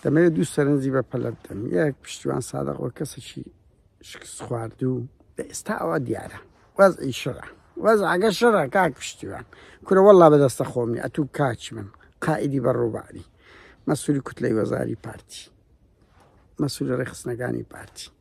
دەمەوێت دوو سەرنجی بە پەلە بدەم یەک پشتیوان سادەق وە کەسێکی شکست خواردوو لە ئێستا ئەوە دیارە واز ئیشڕە واز ئەگەر شەڕە کاک پشتیوان کورە وەڵا بەدەستە خۆمی ئەتوو کاچی من قائیدی بە ڕووباری مەسووری کوتلەی وەزاری پارتی مەسوول ڕێخستنەکانی پارتی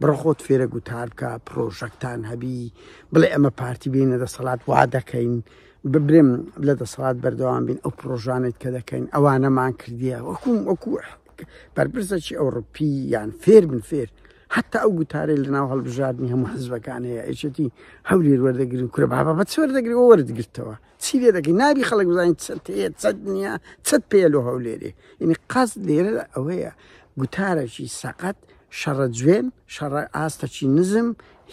بڕۆ خۆت فێرە گوتار بکە پرۆژەکتان هەبی بڵێ ئەمە پارتی بینە دەسەڵات وا دەکەین ببرم لە دەسەڵات بەردەوام بین ئەو پرۆژانێت کە دەکەین ئەوانەمان کردیە وەکوم وەکو بەرپرسەکی ئەوروپی یان فێر من فێر حتا ئەو گوتارێ لە ناو هەڵبژاردننی هەموو حزبەکان هەیە ئەچێتی هەولێر وەردەگرن کورە بابە بە چۆر دەگری وەردگرتەوە چی لێ دەکەی نابی خەڵک بزانین چەند هەیە چەند نییە چەند پێ لۆ هەولێرێ یعنی قەز لێرە ئەوەیە گوتارەکی سەقەت شەڕە جوێن شەڕە ئاستەکی نزم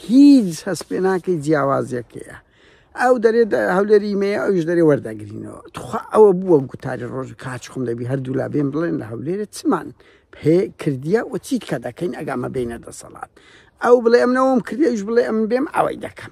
هیچ هەست پێ ناکەی جیاوازیەکەیە ئەو دەرێت هەولێری مێ ئەوش دەرێ وەردەگرینەوە تخوا ئەوە بووە گوتاری ڕۆژ کاچخم دەبی هەردوو لا بێن بڵێن لە هەولێرە چمان پێ کردیە و چیت کە دەکەین ئەگامە بینە دەسەڵات ئەو بڵێ ئەمنەوەم کردیش بڵێ ئەم بێم ئەوەی دەکەم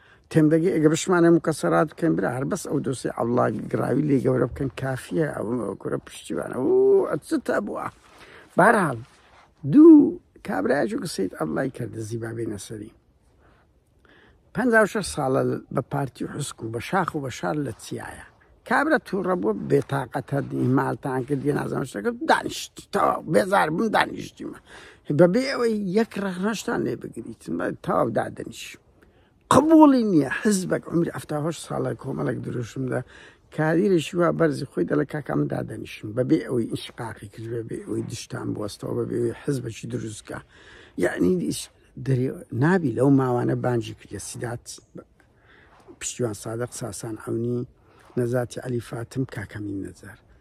تێمدەگەی ئەگە بشمانێ مکەسەرات بکەین برا هەر بەس ئەو دۆسی عەڵا گراوی لێ گەورە بکەن کافیە ئەو کورە پشتیوانە ئەچتە بووە بارحاڵ دوو کابراجو گسیت ئەڵای کردە زیبابێ نەسەری پ ساڵە بە پارتی حسک و بە شاخ و بە شار لە چیایە کابرا تووڕە بووە بێتاقەتە مالتان کرد دێ نازان شتەکە دانیشت تەوا بێزار بوون دانیشتیمە بەبێ ئەوەی یەک ڕەخنەشتان لێ بگریت تەواو دادەنیشم قبوڵی نییە حزبێک عمری ئەفتا هەشت ساڵە کۆمەڵێک دروشمدا کادیرێکی وا بەرزی خۆی دەڵێ کاکام دادەنیشن بەبێ ئەوەی ئینشقاقی کرد بەبێ ئەوەی دشتان بوەستەوە بەبێ ئەوەی حزبەکی دروستکە یعنی دەرێ نابی لەو ماوانە بانجی کردە سیدات پشتیوان سادق ساسان ئەونی نەزاتی علی فاتم کاکەمین نەزار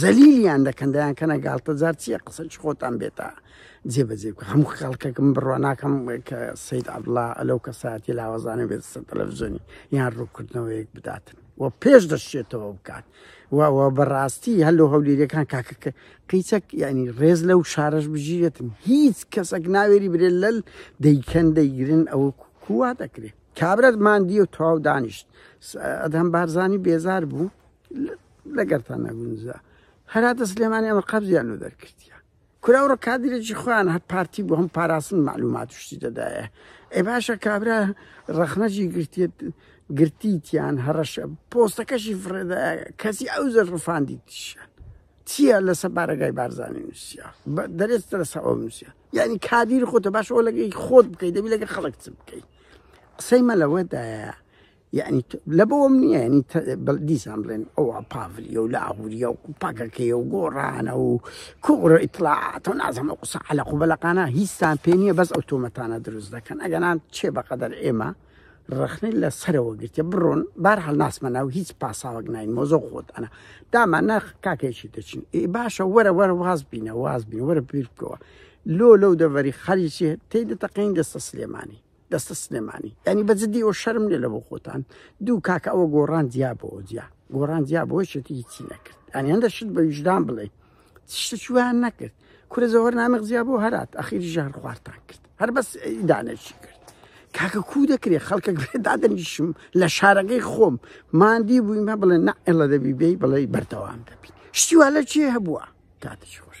زەلیلیان دەکەن دەیان کەنە گاڵتە جار چییە قسە چ خۆتان بێتە جێبەجێ بکە هەموو خەڵکەکەم بڕوا ناکەم کە سید عبدڵا ئەلەو کەسایەتی لاوەزانە بێت سەر تەلەڤزیۆنی یان ڕووکردنەوەیەک بداتن و پێش دەشتێتەوە بکات وەوە بەڕاستی هەلو هەولێریەکان کاکەکە قیچەک ینی ڕێز لەو شارەش بژیرێتن هیچ کەسەک ناوێری برێ لەل دەیکەن دەیگرن ئەو کووا دەکرێت کابرەت ماندی و تەواو دانیشت ئەدەم بارزانانی بێزار بوو لەگەرتان نەگونجا هەرا دەست لێمانی ئەمە قەبزیان لۆ دەرکردە کورا ڕە کادرێکی خۆیان هەر پارتی بۆ هەم پاراستن معلومات شتی دەدایە ئێ باشە کابرا ڕەخنەجی گرتێت گرتیتیان هەڕەشە پۆستەکەشی فڕێدا کەسی ئەو زەر ڕفاندی تیشان چییە لەسە بارەگای بارزانانی نووسیا دەرێستە لەسە ئەو نووسیا یعنی کادیر خۆتە باش ئەو لەگەی خۆت بکەیت دەبی لەگە خەڵک چ بکەیت قسەی مەلەوەدایە یعنی لە بەوەم نییە ینی دیسان بڵێن ئەوە پاڤلیە و لاهوریە و پاکەکەی و گۆڕانە و کوڕە ئیتلاعات و نازەمە قوسە عەلە قوبەلەقانە هیچستان پێ نییە بەس ئەو تۆمەتانە دروست دەکەن ئەگەنان چێ بەقەدەر ئێمە ڕخنەی لە سەرەوە گرتە بڕۆن بار هەڵ ناسمە ناو هیچ پاساوەک نین مۆزۆ خۆت ئەنا دامان ناخ کاکێکی دەچین ئێ باشە وەرە وەرە واز بینە واز بین وەرە بیر بکەوە لۆ لەو دەڤەری خەریکی تێ دەتەقین دەستە سلێمانی دەستە سلێمانی ینی بە جدی ئەو شەرم لێ لە بۆ خۆتان دوو کاکە ئەوە گۆڕان دیا بۆ جیا گۆڕان دیا بۆ شێتی چی نەکرد ئەنی هەندە شت بە ویژدان بڵێ شتە چوان نەکرد کورە زەوەر نامەق زیا بۆ هەرات ئەخیری ژار خوارتان کرد هەر بەس دانێکی کرد کاکە کو دەکرێ خەڵکە دادەنیشم لە شارەکەی خۆم مادی بوویمە بڵێ نەئێڵە دەبی بێی بڵێ بەردەوام دەبی شتیوا لە چێ هەبووە کاتش خۆش